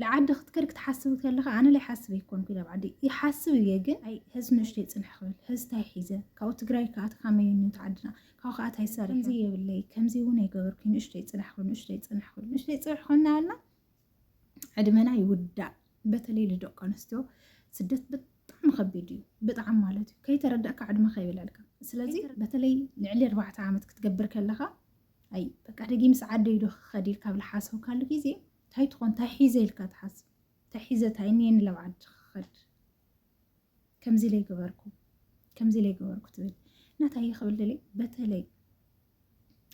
ልዓዲ ክትከድ ክትሓስብ ከለኻ ኣነ ለይሓስብ ኣይኮንኩ ናብ ዓዲ ይሓስብ እየ ግን ኣይ ህዝ ንእሽቶ ይፅንሕ ክብል ህዝ ታይ ሒዘ ካብኡ ትግራይ ከዓ ተካመዩ ኒውት ዓድና ካብኡ ከዓ ታይ ሰሪ ከምዚ የብለይ ከምዚ እውን ኣይገበርኩ ንእሽቶ ይፅንሕ ክብል ንእሽቶ ይፅንሕ ክብል ንእሽቶ ይፅንሕ ኮና ያልና ዕድመና ይውዳእ በተለይ ልደቂ ኣንስትዮ ስደት ብጣዕሚ ከቢድ እዩ ብጣዕሚ ማለት እዩ ከይተረዳእካ ዕድመ ከይብለልካ ስለዚ በተለይ ልዕሊ ኣርባዕተ ዓመት ክትገብር ከለካ ኣይ በቃ ደጊ ምስ ዓደይ ዶ ክኸድ ኢልካ ብልሓሰብካሉ ግዜ ታይ ትኾን ታይ ሒዘ ኢልካ ትሓስብ ታይ ሒዘ ታይ እኒኤኒ ላብ ዓዲ ክኸድ ከምዚ ለይ ገበርኩ ከምዚ ለይ ገበርኩ ትብል እና ታይ ክብል ደልየ በተለይ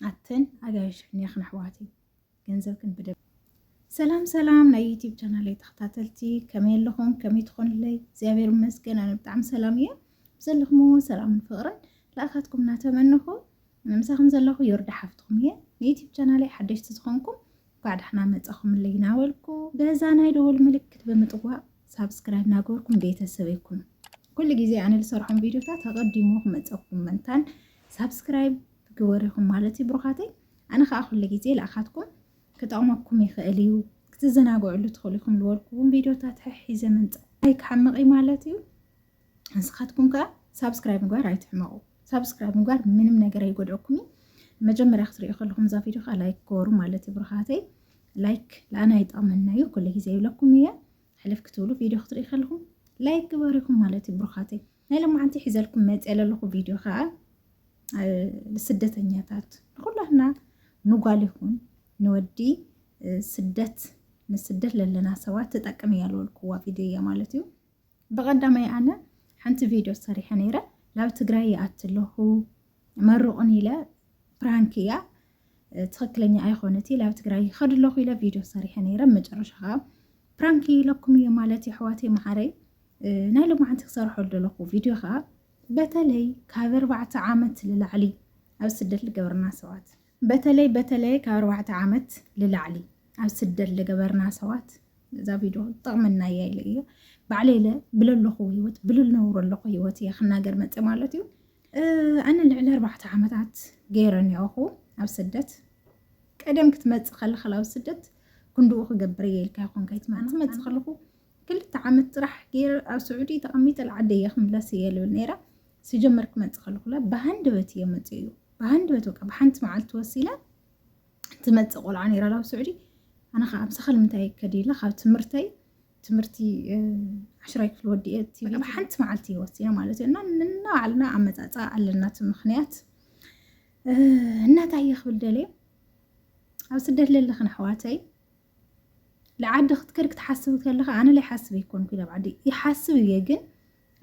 ኣተን ኣጋይሽ ሕንያኽን ኣሕዋትይ ገንዘብክን ብደ ሰላም ሰላም ናይ ዩቲብ ቻናለይ ተኸታተልቲ ከመይ ኣለኹም ከመይ ትኾኑለይ እግዚኣብሔር ይመስገን ኣነ ብጣዕሚ ሰላም እየ ብዘለኹምዎ ሰላምን ፍቕርን ለኣኻትኩም እናተመንኹ ምሳኹም ዘለኹ ዮርዳ ሓፍትኹም እየ። ንዩቲብ ቻናለይ ሓደሽቲ ዝኾንኩም እንኳዕ ዳሕና መጻኹምለይ ናበልኩ በዛ ናይ ደወል ምልክት ብምጥዋቕ ሳብስክራይብ ናገበርኩም ቤተሰብ ይኩኑ። ኩሉ ግዜ ኣነ ዝሰርሖም ቪድዮታት ኣቐዲሙ ክመፀኩም መንታን ሳብስክራይብ ግበሪኹም ማለት እዩ ብሩኻተይ። ኣነ ከዓ ኩሉ ግዜ ልኣኻትኩም ክጠቕመኩም ይኽእል እዩ ክትዘናግዕሉ ትኽእሉ ኢኹም ዝበልኩዎም ቪድዮታት ሕሒዘ ምምፃእ ኣይክሓምቕ ማለት እዩ። ንስኻትኩም ከዓ ሳብስክራይብ ምግባር ኣይትሕመቑ። ሳብስክራይብ ምግባር ምንም ነገር ኣይጎድኦኩም እዩ። መጀመርያ ክትሪኦ ከለኹም እዛ ቪድዮ ከዓ ላይክ ገበሩ ማለት እዩ ብርኻተይ። ላይክ ለኣና ይጠቕመና እዩ ኩሉ ግዜ ይብለኩም እየ። ሕልፍ ክትብሉ ቪድዮ ክትሪኢ ከለኹም ላይክ ግበሪኹም ማለት እዩ ብርኻተይ። ናይ ሎማዓንቲ ሒዘልኩም መፅ ዘለኹ ቪድዮ ከዓ ስደተኛታት ንኩላትና ንጓል ይኹን ንወዲ ስደት ንስደት ለለና ሰባት ትጠቅም እያ ዝበልኩዋ ቪድዮ እያ ማለት እዩ። ብቀዳማይ ኣነ ሓንቲ ቪድዮ ሰሪሐ ነይረ ናብ ትግራይ ይኣቲ ኣለኹ መርቑን ኢለ ፕራንክ እያ ትኽክለኛ ኣይኮነት ናብ ትግራይ ይኸድ ኣለኹ ኢለ ቪድዮ ሰሪሐ ነይረ መጨረሻ ከዓ ፕራንክ ኢለኩም እየ ማለት የሕዋት መሓረይ ናይ ልምዓንቲ ክሰርሖ ዘለኹ ቪድዮ ከዓ በተለይ ካብ ኣርባዕተ ዓመት ንላዕሊ ኣብ ስደት ዝገብርና ሰባት በተለይ በተለይ ካብ ኣርባዕተ ዓመት ልላዕሊ ኣብ ስደት ልገበርና ሰባት እዛ ቪድዮ ጠቕመና እያ ኢለ እየ ባዕለይ ለ ብለለኹ ህይወት ብልነብሮ ኣለኹ ህይወት እየ ክናገር መፀ ማለት እዩ ኣነ ልዕሊ ኣርባዕተ ዓመታት ገይረ ኒኦኹ ኣብ ስደት ቀደም ክትመፅእ ከለኻ ኣብ ስደት ክንድኡ ክገብር እየ ኢልካ ይኹን ከይትመፅእ ከለኹ ክልተ ዓመት ጥራሕ ገይረ ኣብ ስዑዲ ተቐሚጠ ልዓደየ ክምለስ እየ ልብል ነይረ ስጀመር ክመፅእ ከለኹላ ብሃንደበት እየ መፅኡ ብሃንደበት በቃ ብሓንቲ መዓልቲ ወሲላ ትመፅእ ቆልዓ ነይራ ኣብ ስዑዲ ኣነ ከዓ ምሳኻ ንምንታይ ከዲላ ካብ ትምህርተይ ትምህርቲ ዓሽራይ ክፍሊ ወዲኤ ኣብ ሓንቲ መዓልቲ ይወሲነ ማለት እዩ እና ንናባዕልና ኣመፃፃ ኣለና እቲ ምክንያት እናታይ ክብል ደልየ ኣብ ስደት ለለኽን ኣሕዋተይ ልዓዲ ክትከድ ክትሓስብ ከለካ ኣነ ላይ ሓስብ ኣይኮንኩ ናብ ዓዲ ይሓስብ እየ ግን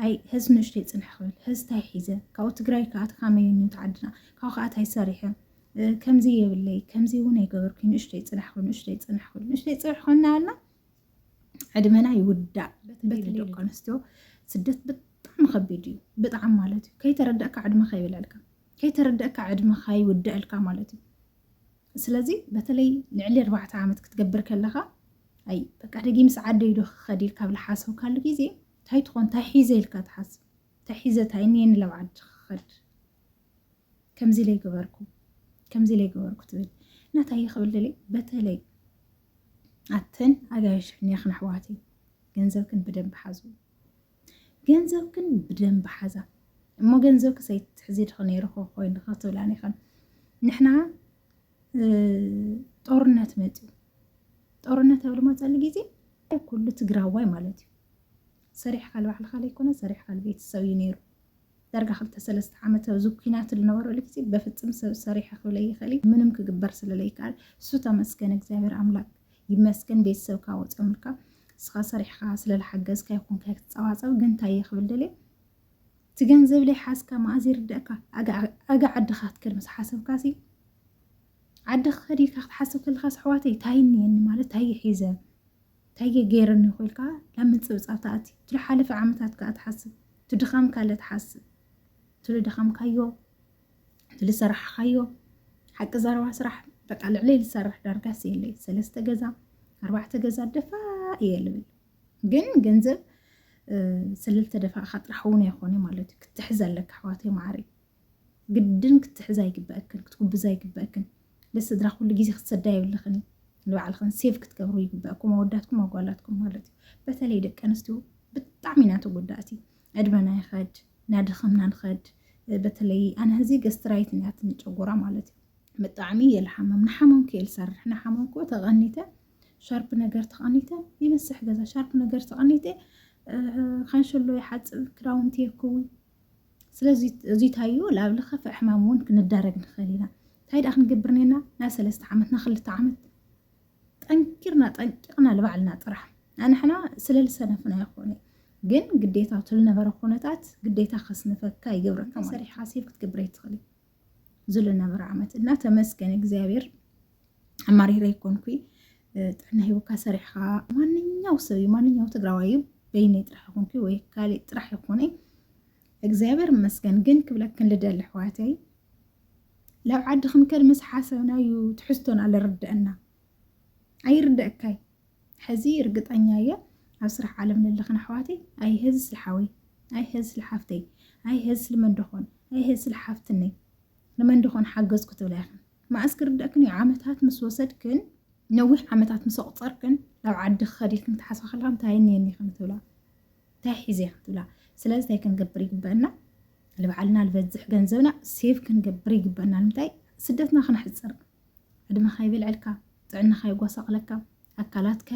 ኣይ ህዝ ንእሽቶ ይፅንሕ ክብል ህዝ ታይ ሒዘ ካብኡ ትግራይ ከዓ ተካመዩኒ ተዓድና ካብኡ ከዓ ታይ ሰሪሐ ከምዚ የብለይ ከምዚ እውን ኣይገበርኩ ንእሽቶ ይፅንሕ ክብል ንእሽቶ ይፅንሕ ክብል ንእሽቶ ይፅንሕ ኮና ኣልና ዕድመና ይውዳእ በተለይ ደቂ ኣንስትዮ ስደት ብጣዕሚ ከቢድ እዩ ብጣዕሚ ማለት እዩ ከይተረዳእካ ዕድመካ ይበላልካ ከይተረዳእካ ዕድመካ ይውዳእልካ ማለት እዩ ስለዚ በተለይ ልዕሊ ኣርባዕተ ዓመት ክትገብር ከለኻ ኣይ በቃ ደጊ ምስ ዓደይ ዶ ክኸድ ኢልካ ብላ ሓሰብካሉ ግዜ እንታይ ትኾን እንታይ ሒዘ ኢልካ ትሓስብ እንታይ ሒዘ እንታይ እኒየ ንላብ ዓዲ ክኸድ ከምዚ ኢለ ይገበርኩ ከምዚ ኢለ ይገበርኩ ትብል እና እንታይ እየ ክብል ደለይ በተለይ ኣተን ኣጋይሽ ሕንያኽን ኣሕዋት እዩ ገንዘብክን ብደንብ ሓዙ ገንዘብክን ብደንቢ ሓዛ እሞ ገንዘብኪ ዘይትሕዚ ድኸ ነይሩ ኮይኑ ክትብላን ይኸን ንሕና ጦርነት መፅዩ ጦርነት ኣብ ልመፀሉ ጊዜ ኩሉ ትግራዋይ ማለት እዩ ሰሪሕካ ልባዕልካ ዘይኮነ ሰሪሕካ ልቤተሰብ እዩ ነይሩ ዳርጋ ክልተ ሰለስተ ዓመት ኣብዚ ኩናት ልነበረሉ ግዜ በፍጽም ሰብ ሰሪሐ ክብለይ ይክእልይ ምንም ክግበር ስለ ለይክኣል እሱ ተመስገን እግዚኣብሔር ኣምላክ ይመስገን ቤተሰብካ ወጽዮምልካ እስኻ ሰሪሕኻ ስለ ልሓገዝካ ይኹንካ ክትጸባጸብ ግን ታየ ክብል ደልየ እቲ ገንዘብ ለይ ሓዝካ መኣዝ ይርደእካ ኣጋ ዓድኻ ክትከድ ምስ ሓሰብካ ሲ ዓዲ ክኸድ ኢልካ ክትሓስብ ከለኻ ኣሕዋተይ ታይ እኒየኒ ማለት ታይ ሒዘ ታየ ገይረኒ እኮ ኢልካ ናብ ምንጽብጻብ ትኣቲ እቲ ዝሓለፈ ዓመታት ከኣ ትሓስብ እቲ ድኻምካ ለ ትሓስብ እቲ ዝደኸምካዮ እቲ ዝሰራሕኻዮ ሓቂ ዘረባ ስራሕ በቃ ልዕለይ ዝሰርሕ ዳርጋስ የለይ ሰለስተ ገዛ ኣርባዕተ ገዛ ደፋእ እየ ልብል ግን ገንዘብ ስለልተደፋእካ ጥራሕ እውን ኣይኮነ ማለት እዩ ክትሕዝ ኣለካ ኣሕዋተይ ማዕረይ ግድን ክትሕዛ ኣይግበእክን ክትጉብዛ ኣይግበእክን ልስድራ ኩሉ ግዜ ክትሰዳ የብልኽን እዩ ንባዕልኽን ሴቭ ክትገብሩ ይግበእኩም ኣወዳትኩም ኣጓላትኩም ማለት እዩ በተለይ ደቂ ኣንስትዮ ብጣዕሚ ኢና ተጎዳእቲ ዕድመና ይኸድ ናደኸምና ንኸድ በተለይ ኣነ ህዚ ገስትራይት ንያትኒ ጨጎራ ማለት እዩ ብጣዕሚ እየ ልሓመም ንሓመምኩ እየ ልሰርሕ ንሓመምኩ ተቐኒተ ሻርፕ ነገር ተቐኒተ ይመስሕ ገዛ ሻርፕ ነገር ተቐኒተ ካንሸሎ ይሓፅብ ክዳውንቲ የክውን ስለዚ እዚ እንታይዮ ላብ ልኸፈ ሕማም እውን ክንዳረግ ንኽእል ኢና እንታይ ደኣ ክንገብር ነና ና ሰለስተ ዓመት ና ክልተ ዓመት ጠንኪርና ጠንቂቕና ልባዕልና ጥራሕ ኣንሕና ስለ ልሰነፍና ይኾነ ግን ግዴታ እቲ ልነበረ ኩነታት ግዴታ ከስንፈካ ይገብረካ ሰሪሕ ሓሲብ ክትገብረ ይትኽእል ዝለነበረ ዓመት እና ተመስገን እግዚኣብሔር ኣማሪረ ይኮንኩ ጥዕና ሂቡካ ሰሪሕካ ማንኛው ሰብ እዩ ማንኛው ትግራዋይ እዩ በይነይ ጥራሕ ይኮንኩ ወይ ካሊእ ጥራሕ ይኮነ እግዚኣብሔር ይመስገን ግን ክብለክን ልደሊ ኣሕዋተይ ላብ ዓዲ ክንከድ ምስ ሓሰብና እዩ ትሕዝቶና ልርደአና ኣይርደእካይ ሕዚ ርግጠኛ እየ ኣብ ስራሕ ዓለም ለለኽን ኣሕዋተይ ኣይ ሀዚ ስለ ሓወይ ኣይ ሀዚ ስለ ሓፍተይ ኣይ ሀዚ ስለ መንደኾን ኣይ ሀዚ ስለ ሓፍትነይ ንመንደኾን ሓገዝኩ ትብላ ኢኽን መኣስ ክርደእክን እዩ ዓመታት ምስ ወሰድክን ነዊሕ ዓመታት ምስ ኣቑፀርክን ናብ ዓዲ ክኸድ ኢልክን ክትሓስባ ከለካ እንታይ እኒአኒ ኢኽን ትብላ እንታይ ሒዘ ኢኽን ትብላ ስለዚ እንታይ ክንገብር ይግበአና ልባዕልና ልበዝሕ ገንዘብና ሴቭ ክንገብር ይግበአና ንምንታይ ስደትና ክነሕፅር ዕድመኻ ይበልዐልካ፣ ጥዕናኻ የጓሳቕለካ፣ ኣካላትካ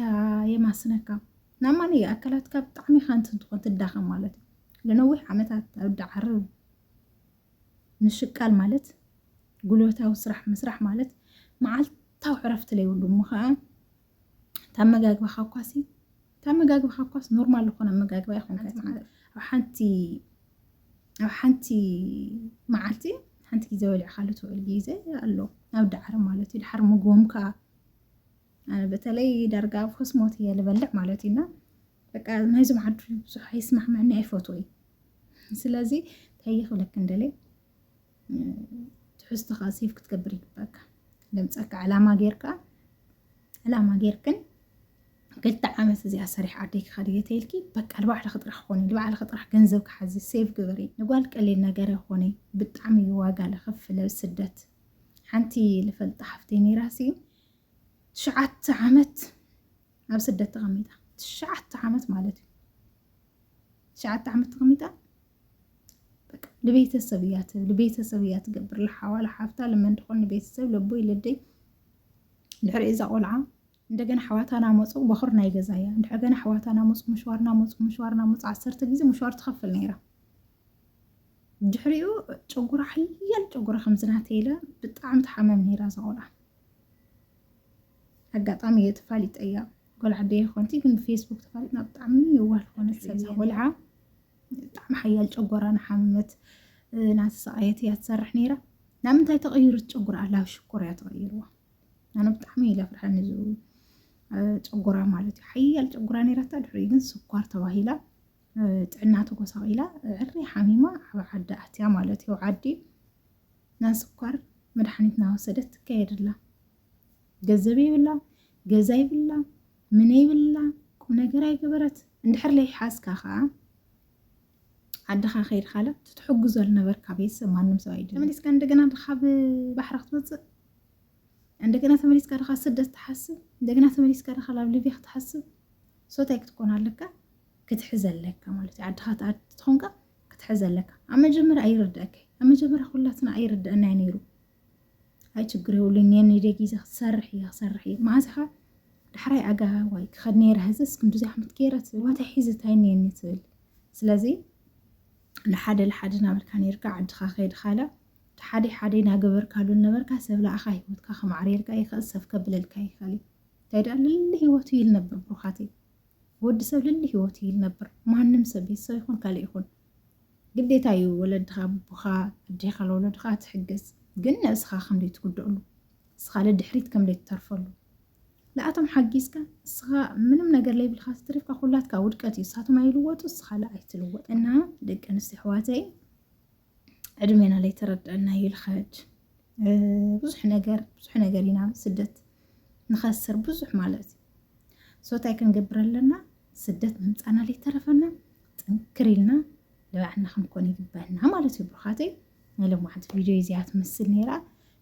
የማስነካ። ናብ ማንየ ኣካላትካ ብጣዕሚ ኢኻ እንትትኾን ትዳኸም ማለት እዩ። ንነዊሕ ዓመታት ኣብ ዳዓርብ ምሽቃል ማለት ጉልበታዊ ስራሕ ምስራሕ ማለት መዓልታዊ ዕረፍቲ ለይብሉ እሞ ከዓ ታመጋግባኻ እኳሲ ታመጋግባኻ እኳስ ኖርማል ዝኾነ ኣመጋግባ ይኹን ኣብ ሓንቲ ኣብ ሓንቲ መዓልቲ ሓንቲ ግዜ ወሊዕኻሉ ትውዕል ግዜ ኣሎ ናብ ዳዕሪ ማለት እዩ ድሓር ምግቦም ከዓ ኣነ በተለይ ዳርጋ ኣብ ክስሞት እየ ልበልዕ ማለት እዩና በቃ ናይዞም ዓዱ ብዙሕ ኣይስማዕመዕኒ ኣይፈትወይ ስለዚ እንታይ ይኽብለክ እንደለይ ትሕዝቶኻ ሴፍ ክትገብር ይግበካ ድምፀካ ዕላማ ጌርካ ዕላማ ጌርክን ክልተ ዓመት እዚኣ ሰሪሕ ዓደይ ክኸድ እየ ተይልኪ በቃ ንባዕልኺ ጥራሕ ኮኒ ንባዕልኺ ጥራሕ ገንዘብ ክሓዚ ሴቭ ግበሪ ንጓል ቀሊል ነገር ይኾነ ብጣዕሚ እዩ ዋጋ ለኸፍለ ስደት ሓንቲ ልፈልጣ ሓፍተይ ነይራሲ ትሽዓተ ዓመት ኣብ ስደት ተቐሚጣ ትሽዓተ ዓመት ማለት እዩ ትሽዓተ ዓመት ተቐሚጣ በቃ ንቤተሰብ እያ ትብል፣ ንቤተሰብ እያ ትገብር፣ ልሓዋ ልሓፍታ ልመን ትኾን ንቤተሰብ ለቦይ ለደይ ድሕሪ እዛ ቆልዓ እንደገና ኣሕዋታ ናመፁ በኹር ናይ ገዛ እያ እንድሕር ገና ኣሕዋታ ናመፁ ምሽዋር ናመፁ ምሽዋር ናመፁ ዓሰርተ ግዜ ምሽዋር ትኸፍል ነይራ ድሕሪኡ ጨጉራ ሓያል ጨጉራ ከምዝናተይለ ብጣዕሚ ተሓመም ነይራ እዛ ቆልዓ ኣጋጣሚ እየ ተፋሊጠያ ጓል ዓደየ ኮንቲ ግን ብፌስቡክ ተፋሊጥና ብጣዕሚ የዋህ ዝኾነት ሰብ ቆልዓ ብጣዕሚ ሓያል ጨጎራ ንሓመመት ናተሰቃየት እያ ትሰርሕ ነይራ ናብ ምንታይ ተቐይሩ ትጨጉራ ኣላ ሽኮር እያ ተቐይርዋ ኣነ ብጣዕሚ ኢለ ፍርሐኒ እዚ ጨጎራ ማለት እዩ ሓያል ጨጉራ ነይራታ ድሕሪ ግን ስኳር ተባሂላ ጥዕና ተጎሳቂላ ዕሪ ሓሚማ ኣብ ዓዲ ኣትያ ማለት እዩ ዓዲ ናይ ስኳር መድሓኒት ናወሰደት ትካየድላ ገዘብ የብላ ገዛ ይብላ ምነ ይብላ ቁነገር ኣይገበረት እንድሕር ለይሓዝካ ከዓ ዓድኻ ከይድካለ ትትሕግዞ ዝነበርካ ቤተሰብ ማንም ሰብ ኣይድን። ተመሊስካ እንደገና ድኻ ብባሕሪ ክትወፅእ እንደገና ተመሊስካ ድኻ ስደት ትሓስብ እንደገና ተመሊስካ ድኻ ናብ ሊብያ ክትሓስብ ሶታይ ክትኮን ኣለካ ክትሕዘ ኣለካ ማለት እዩ። ዓድኻ ትኣድ ትኾንካ ክትሕዘ ኣለካ። ኣብ መጀመርያ ኣይርድአካ ኣብ መጀመርያ ኩላትና ኣይርድአና ነይሩ ኣይ ችግር የብሉን ኔኒ ደጊዘ ክትሰርሕ እየ ክሰርሕ እየ መዓዝ ኢኻ ዳሕራይ ኣጋ ዋይ ክኸድ ነይረ ህዝስ ክንዲ ዛሕምት ገይረ ትብል ዋታይ ሒዚ ታይ ኔኒ ትብል ስለዚ ንሓደ ንሓደ ናበልካ ነርካ ዓድኻ ከይድኻላ ሓደ ሓደ ናገበርካሉ ነበርካ ሰብ ለኣኻ ሂወትካ ከማዕርየልካ ይኽእል ሰብ ከብለልካ ይኽእል እዩ እንታይ ደኣ ልሊ ሂወቱ ይልነብር ብሩኻት እዩ ወዲ ሰብ ልሊ ህይወት እዩ ልነብር ማንም ሰብ ቤተሰብ ይኹን ካልእ ይኹን ግዴታ እዩ ወለድኻ ኣቦኻ ኣዴኻ ለወለድኻ ትሕግዝ ግን ንእስኻ ከምደይ ትጉደእሉ እስኻ ልድሕሪት ከምደይ ትተርፈሉ ንኣቶም ሓጊዝካ እስኻ ምንም ነገር ለይብልካ ትትሪፍካ ኩላትካ ውድቀት እዩ እሳቶም ኣይልወጡ እስኻ ለ ኣይትልወጥ እና ደቂ ኣንስትዮ ኣሕዋተይ ዕድሜና ለይተረድዐና ይልኸድ ብዙሕ ነገር ብዙሕ ነገር ኢና ስደት ንኸስር ብዙሕ ማለት እዩ ሶታይ ክንገብር ኣለና ስደት ምምፃና ለይተረፈና ጥንክር ኢልና ንባዕልና ክንኮን ይግበና ማለት እዩ ብሩኻተይ ናይ ሎማዓንቲ ቪድዮ እዚኣ ትመስል ነይራ